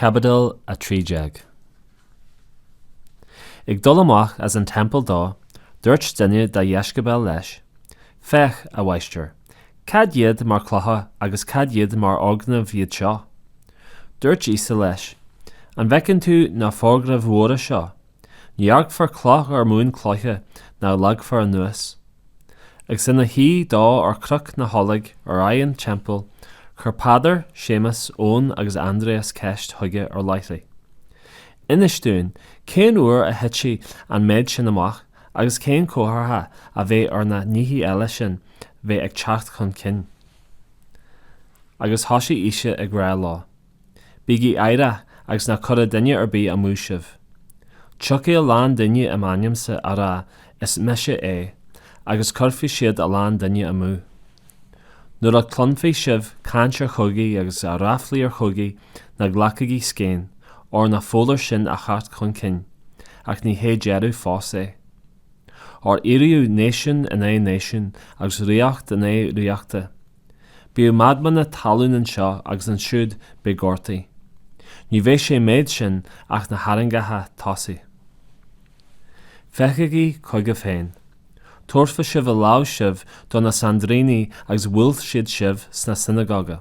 Caibidil 13 Ag dul amach as an teampall dó, dúirt duine dá dheisceabail leis, Féach, a Mháistir, cad iad mar chlocha agus cad iad mar fhoirgnimh iad seo? Dúirt Íosa leis, An bhfeiceann tú na foirgnimh mhóra seo? Ní fhágfar cloch ar mhuin cloiche ná leagfar anuas. Agus ina shuí dó ar Chnoc na nOlóg ar aghaidh an Teampaill, chuir Peadar, Séamas, Eoin agus Aindrias ceist chuige ar leithligh, Inis dúinn, cén uair a thitfidh an méid sin amach? Agus cén comhartha a bheidh ar na nithe eile sin bheith ag teacht chun cinn? Agus thosaigh Íosa ag rá leo, Bígí aireach agus ná cuireadh duine ar bith amú sibh. Tiocfaidh a lán daoine i m'ainmse á rá, 'Is mise é', agus cuirfidh siad a lán duine amú. Nuair a chluinfidh sibh caint ar chogaí agus ar ráflaí ar chogaí ná glacaigí scéin óir ní foláir sin a theacht chun cinn, ach ní hé deireadh fós é. Óir éireoidh náisiún in aghaidh náisiúin agus ríocht in aghaidh ríochta. Beidh maidhmeanna talún anseo agus ansiúd beidh gortaí. Ní bheidh sa mhéid sin ach na harraingeacha tosaigh. Féachaigí chugaibh féin. Tabharfaidh sibh ar láimh sibh do na sainidríní agus buailfidh siad sibh sna sionagóga.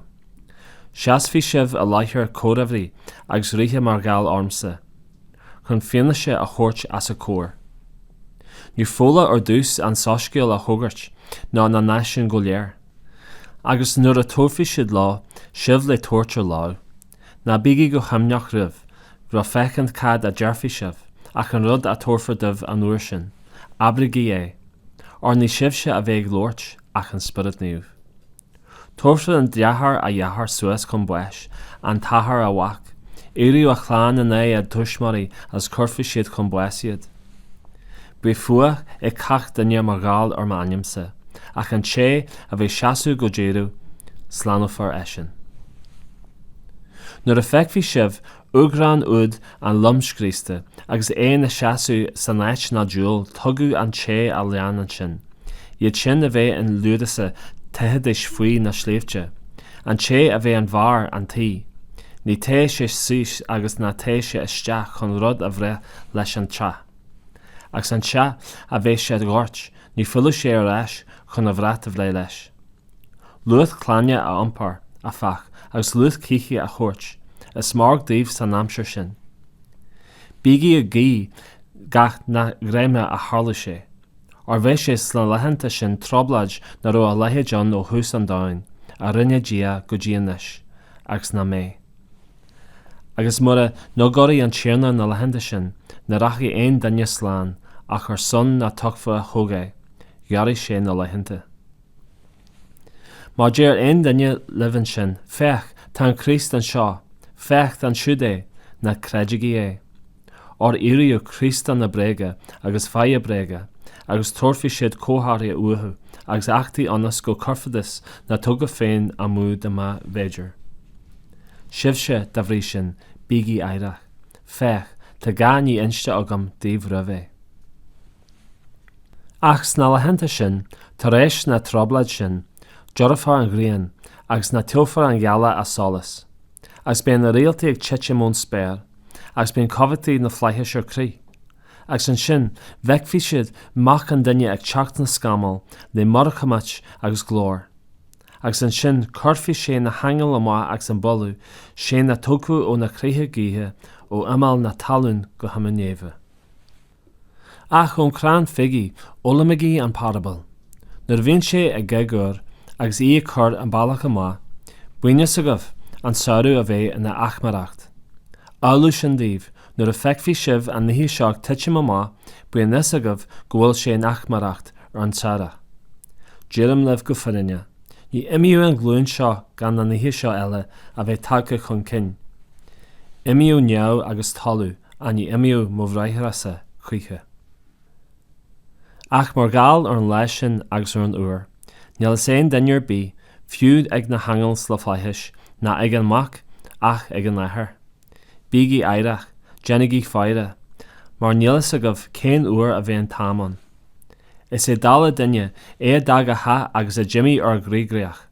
Seasfaidh sibh i láthair gobharnóirí agus ríthe mar gheall ormsa, chun fianaise a thabhairt os a gcomhair. Ní foláir ar dtús an soiscéal a fhógairt do na náisiúin go léir. Agus nuair a thabharfaidh siad leo sibh le tabhairt ar láimh, Ná bígí go himníoch roimh ré féachaint cad a déarfaidh sibh, ach an rud a thabharfar daoibh an uair sin, abraigí é, óir ní sibhse a bheidh ag labhairt, ach an Spiorad Naomh. Tabharfaidh an deartháir a dheartháir suas chun báis, an t-athair a mhac, éireoidh an chlann in aghaidh a dtuismitheoirí agus cuirfidh siad chun báis iad. Beidh fuath ag cach duine mar gheall ar m'ainmse, ach an té a bheidh seasmhach go deireadh, slánófar eisean. Nuair a fheicfidh sibh urghráin úd an lomscriosta agus é ina sheasamh san áit ná dual tuigeadh an té a léann ansin, iad sin a bheidh in Iúdáia teithidís faoi na sléibhte, an té a bheidh ar bharr an tí, ná téadh sé síos agus ná téadh sé isteach chun rud a bhreith leis as an teach. Agus an té a bheidh sa ghort, ná filleadh sé ar ais chun a bhrat a bhreith leis. Lucht clainne a iompar, áfach, agus lucht cíche a thabhairt, is mairg dóibh san aimsir sin. Bígí ag guí nach sa gheimhreadh a tharlódh sé, óir beidh sé sna laethanta sin trioblóid nach raibh a leithéid ann ó thús an domhain a rinne Dia go dtí anois, agus nach mbeidh. Agus mura ngiorródh an Tiarna na laethanta sin, ní rachadh aon duine slán, ach ar son na dtofa a thogh sé, ghiorraigh sé na laethanta. Má deir aon duine libh ansin, Féach, tá an Críost anseo, féach, ansiúd é, ná creidigí é. Óir éireoidh Críostanna bréige agus fáithe bréige, agus tabharfaidh siad comharthaí uathu, agus éachtaí ionas go gcuirfidís na tofa féin amú dá mb'fhéidir. Sibhse, dá bhrí sin, bígí aireach, féach, tá gach ní inste agam daoibh roimh ré. Ach sna laethanta sin, tar éis na trioblóide sin, dorchófar an ghrian, agus ní thabharfaidh an ghealach a solas, agus beidh na réaltaí ag titim ón spéir, agus beidh na cumhachtaí sna flaithis ar crith, agus ansin feicfidh siad Mac an Duine ag teacht sna scamaill le mórchumhacht agus glóir, agus ansin cuirfidh sé na haingil amach agus baileoidh sé na tofa ó na ceithre gaotha ó imeall na talún go himeall neimhe. Ach ón chrann fígí, foghlaimígí an parabal. Nuair a bhíonn sé a ghéag úr agus í ag cur an bealach amach, bíonn a fhios agaibh an samhradh a bheith in achmaireacht. Amhlaidh sin daoibh, nuair a fheicfidh sibh na nithe seo ag titim amach, bíodh a fhios agaibh go bhfuil sé in achmaireacht ar an tairseach. Deirim libh go fírinneach, ní imeoidh an ghlúin seo gan na nithe seo uile a bheith tagtha chun cinn. Imeoidh neamh agus talamh, ach ní imeoidh mo bhriathrasa choíche? Ach mar gheall ar an lá sin agus ar an uair, níl a fhios ag aon duine ar bith, fiú ag na haingil sna flaithis, ná ag an Mac, ach ag an Athair. Bígí aireach, déanaigí faire, mar níl a fhios agaibh cén uair a bheidh an t-am ann. Is é dála duine é a d'fhág a theach agus a d'imigh ar an gcoigríoch.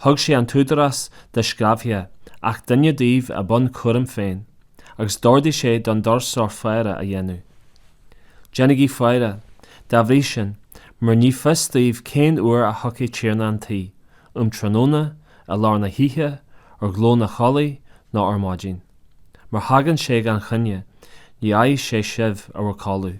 Thug sé an t-údarás dá sclábhaithe, gach duine díobh i mbun a chúraim féin. agus d'ordaigh sé don doirseoir faire a dhéanamh. Déanaigí faire, dá bhrí sin, mar ní fios daoibh cén uair a thiocfaidh Tiarna an tí, um tráthnóna, i lár na hoíche, ar ghlao an choiligh, nó ar maidin. Má thagann sé gan choinne, ná faigheadh sé sibh in bhur gcodladh.